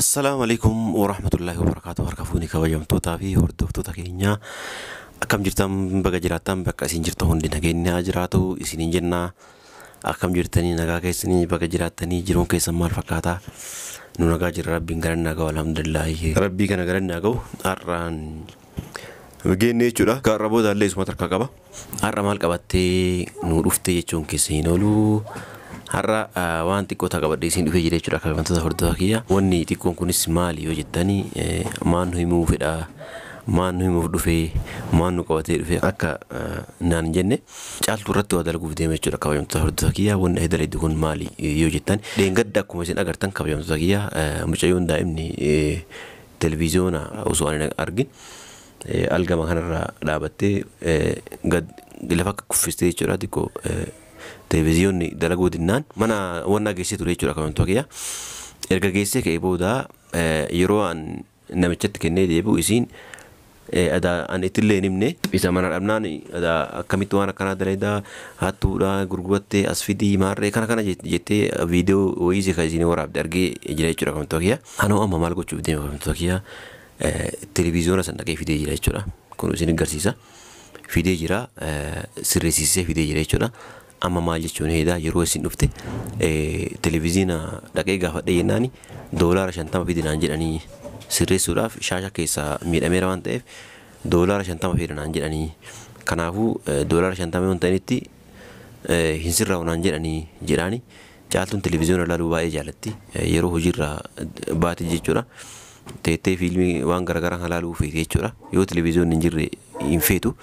Assalaamu alaikum warahmatullahi wabarakaatu harka fuuni kabajamtootaa fi hordoftoota keenyaa akkam jirtan baga jiraattan bakka isin jirtan hundi nageenyaa jiraatu isiniin jenna akkam jirtanii nagaa keessanii baga jiraattanii jiruun keessan maal fakkaata nu nagaa jirra rabbiin galanni haa ga'u alhamdulillaahi rabbii kana galanni haa ga'u har'aan geenne jechuudha gaarra booda illee isuma tarkaa qaba Har'a maal qabattee nuu dhufte jechuun keessan hin oolu. Har'a waan xiqqoo ta'a qabadhee isin dhufee jira jechuudha kabajamtoota hordofaa kiyya. Wanni xiqqoon kunis maali yoo jettani maal nu himuu fedha maal nu himuuf dhufe maal nu qabatee dhufe akka naan hin jenne caaltuu irratti waa dalaguuf deema jechuudha kabajamtoota hordofaa kiyya. Wanni ati dalagde kun maali yoo jettan dheengadda akkuma isin agartan kabajamtoota kiyya mucayyoon daa'imni televiziyoona osoo ani argin algama kanarra dhaabattee gad lafa kuffistee jechuudha xiqqoo televiziyoonni dalaguu dinnaan mana wannaa geessee ture jechuudha akamantoo kiyya. Erga geessee ka'ee booda yeroo an namichatti kennee deebi'u isiin adaa an ittillee hin himne isa mana dhabnaan adaa akkamitti waan akkanaa daleedaa hattuudha gurgurattee as fidii maarree kana kana jettee viidiyoo wayii ka isiin waraabde argee jira jechuudha akamantoo kiyya. Anoo amma maal gochuuf deema akamantoo kiyya Televiziyoona san dhaqee fidee jira jechuudha. Kun isin garsiisa. Fidee jira sirreessisee fidee jira jechuudha. Amma maal jechuun heedaa yeroo isin dhufte televiziyoona dhaqee gaafadhee jennaani doolaara shantama fidi naan jedhanii sirreessuudhaaf shaasha keessaa miidhameera waan ta'eef doolaara shantama fida naan jedhanii kanaafuu doolaara shantama yoo hin ta'initti hin sirraa'u naan jedhanii jedhaani Caaltuun televiziyoona ilaaluu baay'ee jaalatti. Yeroo hojiirraa baate jechuudha. Teettee fiilmii waan garaagaraa kan ilaaluu feeti jechuudha. Yoo televiziyoonni hin jirre hin feetu.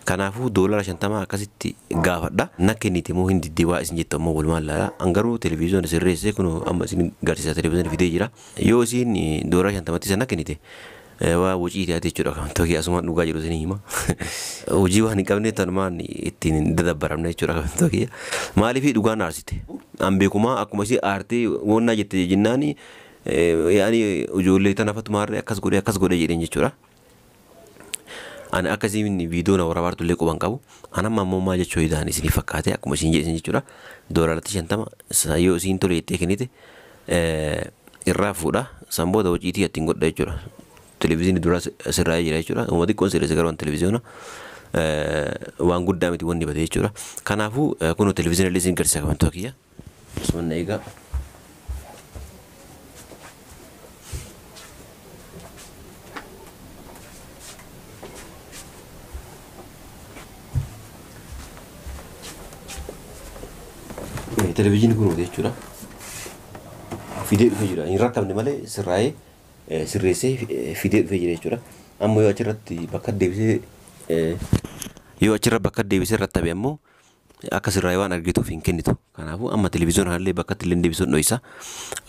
Kanaafuu doolara shantamaa akkasitti gaafadha. Na kenniti moo hin diddi waa isin jettu ammoo walumaan ilaala. An garuu televiziyoona sirreessee kunoo amma isin garsiisa televiziyoona fidee jira. Yoo isiin doolara shantamatti isa na kennite Waa wuciiti ati jechuudha kan tokki asumaan dhugaa jiru isin hima. Hojii waan hin qabne tanumaan ittiin hin dadabbaramne jechuudha kan tokki. Maaliif dhugaa na aarsite? An beekumaa akkuma isii aartee woonnaa jette jennaan yaani ijoollee tana fatumaarree akkas godhe akkas godhe jedheen jechuudha. Ani akka isiin viidiyoo na waraabaa turtullee quba hin qabu. An amma ammoo maal jechuu hidaan isinii fakkaate akkuma isiin jedhe jechuudha. Doolaratti shantama yoo isiin tole jettee kennite irraa fuudha. San booda waciitii ittiin godha jechuudha. Televiziyoonni duraa sirraa jira jechuudha. Uma xiqqoon sirreessa garuu televiziyoona waan guddaa miti wanni bade jechuudha. Kanaafuu kun televiziyoona illee isin garsiisa kamantoota kiyya. Osoo na eegaa. Televezyiinii kun hojii jechuudha. Fidee dhufee jira. Hin rakkamne malee sirraa'ee eh, sirreessee eh, fidee dhufee jira jechuudha. Amma yoo achirratti bakka deebisee eh, yoo achirra bakka deebisee rattabe ammoo Akka sirraa'e waan argituuf hin kennitu. Kanaafuu amma televiziyoona kanallee bakkatti illee deebisuun dhoysa.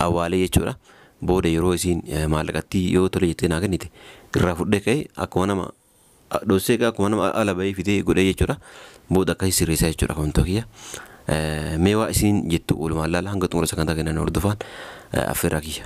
Awwaalee jechuudha. Booda yeroo isiin maallaqattii yoo tole jettee naa kennite irraa fudhee ka'ee akkuma nama dhossee egaa akkuma nama ala ba'ee fidee godhee jechuudha. Booda akkasii sirreessaa jechuudha kamantoota kiyya. Mee waa isiin jettu oolumaan laala hanga xumura sagantaa keenyaa nu hordofaan affeerraa kiyya.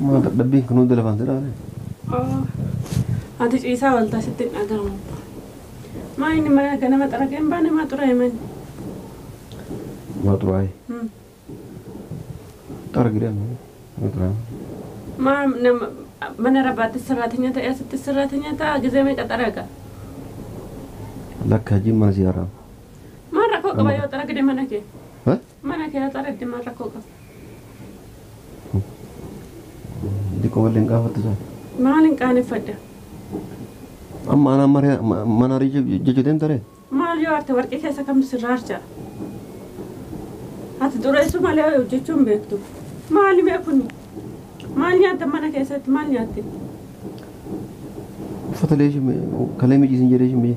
Maa dadhabbiin kan hunda lafaan si dhaane? Oo, ati ciisaa ooltaa sitti hin dhaga'amu abbaa. Maa inni mana ganama xaragee hin baane maa xuraa'e manni? Maa xuraa'e? Hmm. Xaragidha amma. Maa xuraa'e? Maa nama mana rabbaatti sirraatanya ta'e asitti sirraatanya ta'a gizee meeqa xaraga? Lakka hajjiin mana si haraam. Maa rakkoo qaba yoo xaragde mana kee? Eh? Mana kee haxareddi mal rakko qaba. Diqo wal hin qaafattu taate. Maalin qaaneffadha. Amma anaan mare mana arii jechu deemta ree. Maal yoo arte warqii keessa kamtu sirra archa. Ati xureessuu malee ho'i hojjechuu hin beektu. Maali mee kuni? Maal nyaattan mana keessatti maal nyaatte? Uffata leeshi kalee mijiisin jedhee shimee.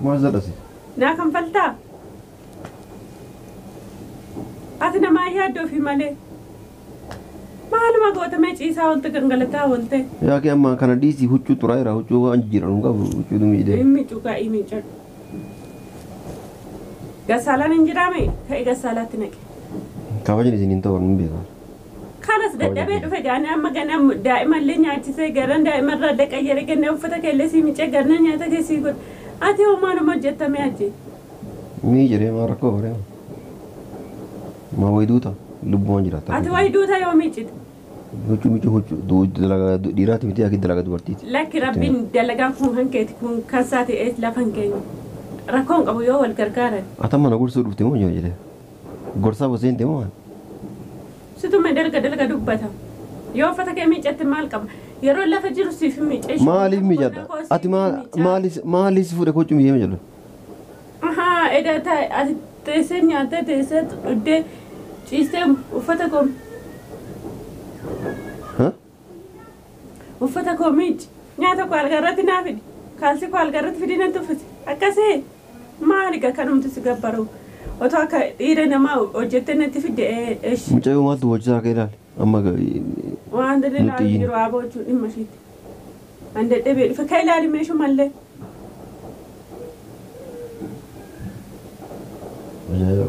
Maal zedha si? Naa kanfaltaa? Ati namaa hin yaaddu ofii malee. Maaluma goota mee ciisaa oolte gangalataa oolte. Yaa kee ammaan kana dhiisi huccuu xuraa'eera huccuu waan jijjiiran hin qabu huccuu dumiidee. Hin micu kaa hin micu. Gassaalaan hin jiraame ka'i gassaalaatti naqi. Kabajni isin hin ta'u hin beekan. Kanas dadhabee dhufe gaani amma gana daa'ima illee nyaachisee garan daa'ima irraa illee qayyare ganna uffata kee illee sii micee garna nyaata kee sii godhe ati hoo maa nama hojjetta mee ati. Mii jedhee maa rakkoo baree maa wayi duuta lubbumaan jiraata. Ati wayi duuta yoo miicite. Huccuu miicuu huccuu dalagaa dhiiraati miti akki dalagaa dubartiiti. Lakki rabbiin dalagaan kun kan keeti kun kan saati eet lafan keenya rakkoon qabu yoo wal gargaaran. Ati amma na gorsuu dhufte moo jedhee. Gorsaa Huseenti moo an? Situ me dalga dalga dubbata. Yoo uffata kee miicatte maal qaba? Yeroon lafa jiru siif hin miica ishii. Maaliif miicadha? Ati maaliif si fuudhe kochuu miicee jedhu? Ahaa edaa taa'e ati teessee nyaattee teessee dhuddee ciistee uffata koo. Uffata koo miicci. Nyaata koo algaa irratti naa fidi. Kaalsii koo algaa irratti fidii natti uffisi. Akkasii? Maali egaa kanumti si gabbaru. Otoo akka dhiira namaa hojjettee natti fidde eshi. Mucayyoo maaltu boochisaa akka ilaali. Amma Waanti inni nutti ilaalu hin iyyin. jiru haa boochuu dhimma ishiitti. An dadhabee dhufe ka ilaali meeshu mallee. Mucayyoo.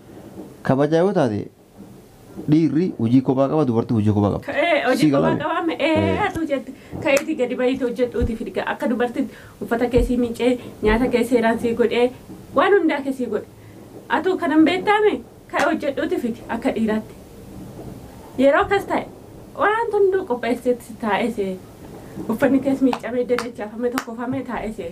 Kabajaa yoo taate dhiirri hojii kophaa qaba dubartii hojii kophaa qaba. Ka'ee Sii hojii kophaa galame. qabaa mee Ee. ee atuu jette ka'iitii gadi bahiitii hojjedhuutii fidga akka dubartitti uffata kee sii miicee nyaata kee seeraan sii godhee waan hundaa kee sii godhe atuu kanan beektaame ka'e hojjedhuutii fidi akka dhiiraatti yeroo akkas ta'e waan hunduu qopheesseetti taa'ee see uffanni kees miicamee dadachaafame tokkofamee taa'ee see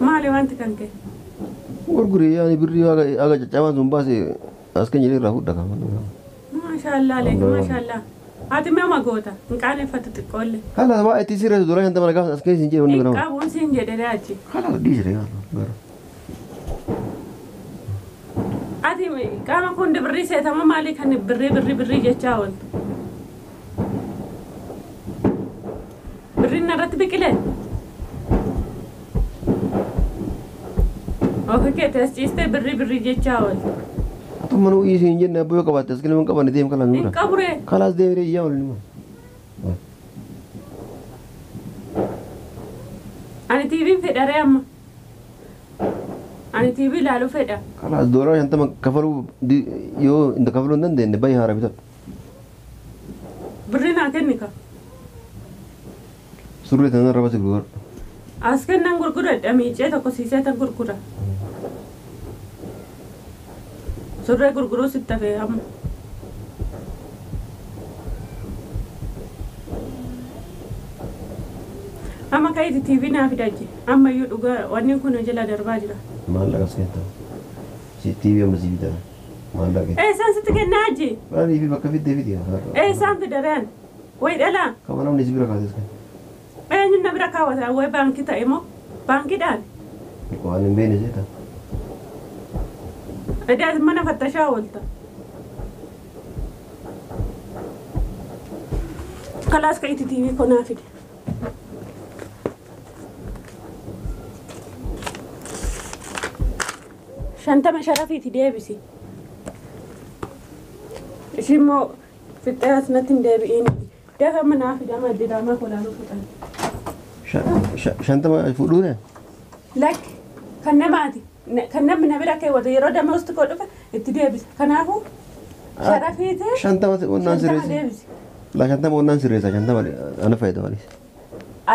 Maali wanti kan kee? Gurguri yaani birrii haga haga caccabaan sun baase as keenya irraa fudhaa kan. Maashaallah leeki maashaallah. Ati mee uma goota hin qaaneffatu xiqqoolle. Halas waa itti sirreessu doolaa shantama gaafas as keessa hin jedhu inni Hin biramaa. qabuun siin jedhee achi. Halas dhiisire yaa gara. Ati qaama kun birrii seetama maalii kan birrii birrii birrii jechaa ooltu? Birriin narratti biqile. Ofi keetti as ciistee birrii birrii jechaa ooli. Tumma nuu dhiisii hin jenne abboo yoo qabaatte as galma hin qabanne deem kalaan Hin nuu dha. qaburee. Kalaas deemee iyyaa oolin immoo. Ani tiiviin fedharee amma. Ani tiivii ilaaluu fedha. Kalaas doolaara shantama kafaluu di- yoo hin kafaluu hin dandeenye baay'ee haara bitadhu. Birri naa kenni ka. Surree tana irra basi gurguradhu. As kennan gurguradha miicee tokko sii seetan gurgura. Surree gurguruu sitti hafee amma. Amma ka'iti TV naa fidachi. Amma iyyuu dhugaa wanni kun jala darbaa jira. Maallaqa as keetta. Si TV amma si bitaa. Maallaqa. Eessaan sitti kennaa hajji? Maaliif bakka fiddee fidi haadha. Eessaan fida reen? Wayi dhalaa? Kama namni si bira kaases kan. Eenyuun na bira kaawwata? Wayi baankii ta'e moo? Baankiidhaan? Waan hin beekne seeta. Edaa mana fattashaa oolta. Kalaas ka itti tiivii konaa fide. shantama sharafiiti deebisi ishiin moo fixxee as natti hin deebi'iin dafa manaa fidama diraamaa kolaanuu fixan Sha- sha- Shantama fuudhuure? lakki kan namaati na- kan namni na bira keewwatu yeroo damoosti koo dhufe itti deebisa kanaafuu sharafiiti Shantama onnaan shantama sirreessa. deebisi La shantama onnaan sirreessa shantama ana fayyada malee.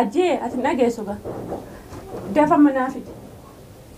ajjee ati hin dhageessu gaa dafa manaa fidi